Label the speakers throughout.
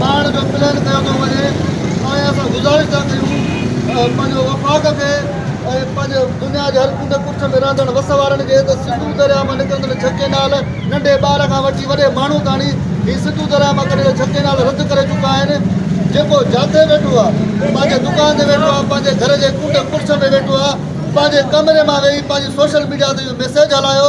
Speaker 1: ٻاهڻ جو پلان ڪيو ٿو وڃي توهان اسان گذارش ٿا ڪيون ته پنهنجو وفاق کي ۽ پنهنجي دنيا جي هر ڪنڊ ڪڙڇ ۾ رهندڙ وس وارن کي ته سنڌو درياء مان نڪرندڙ ڇهه ڪئنال ننڍي ٻار کان وٺي وڏي ماڻهو تاڻي هي سنڌو درياء مان ڪڍيل ڇهه ڪئنال رد ڪري چڪا آهن جيڪو جاٿي ويٺو آهي پنهنجي دڪان تي ويٺو آهي پنهنجي گهر جي ڪنڊ ڪڙڇ ۾ ويٺو آهي پنهنجي ڪمري مان ويهي پنهنجي سوشل ميڊيا تي اهو ميسيج هلايو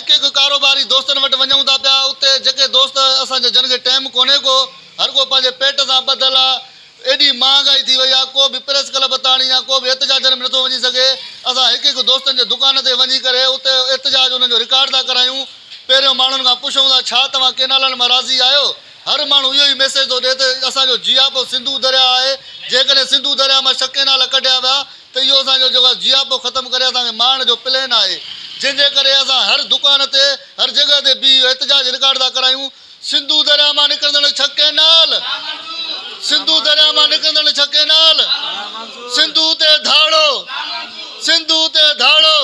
Speaker 1: ڪي ڪي ڪاروباري دوستن وٽ وڃون ٿا پيا، اتي جيڪي دوست اسان جي جنگ جي ٽيم ڪونهي ڪو، هر ڪو پنهنجي پيٽ سان ٻڌل آ، ايڏي مهانگائي ٿي وئي آ، ڪو به پريس ڪلب تاڻي يا ڪو به احتجاجن ۾ نٿو وڃي سگهي، اسان هڪ هڪ دوستن جي دڪان تي وڃي ڪري اتي احتجاج انهن جو رڪارڊ ٿا ڪرايون، پهريون ماڻهن کان پڇون ٿا ڇا توهان ڪينالن مان راضي آهيو، هر ماڻهو اهو ئي ميسيج ٿو ڏئي ته اسان جو جياپو سنڌو درياهه آهي، جيڪڏهن سنڌو درياهه مان ڇهه ڪينال ڪڍيا ويا، ته اهو اسان جو جيڪو جياپو ختم ڪري اسان کي مارڻ جو پلين آهي جنهن جي ڪري اسان هر دڪان تي هر جڳهه تي بيهي اهو احتجاج رڪارڊ ٿا ڪرايون سنڌو درياهه مان نڪرندڙ ڇهه ڪئنال سنڌو درياهه مان نڪرندڙ ڇهه ڪئنال سنڌو تي ڌاڙو سنڌو تي ڌاڙو.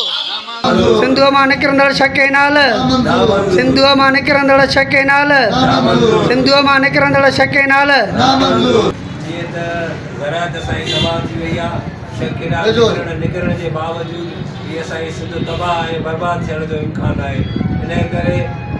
Speaker 1: سنڌوء
Speaker 2: مان نڪرندڙ ڇهه ڪئنال سنڌوء مان نڪرندڙ ڇهه ڪئنال سنڌوء مان نڪرندڙ ڇهه ڪئنال.
Speaker 3: گهران ته سائين تباهه ٿي وئي آ شيخ ڪيڏا نگرڻ نگرڻ جي باوجود هي اسان جي سنڌ تباهه ۽ برباد ٿيڻ جو امڪان آهي انهي ڪري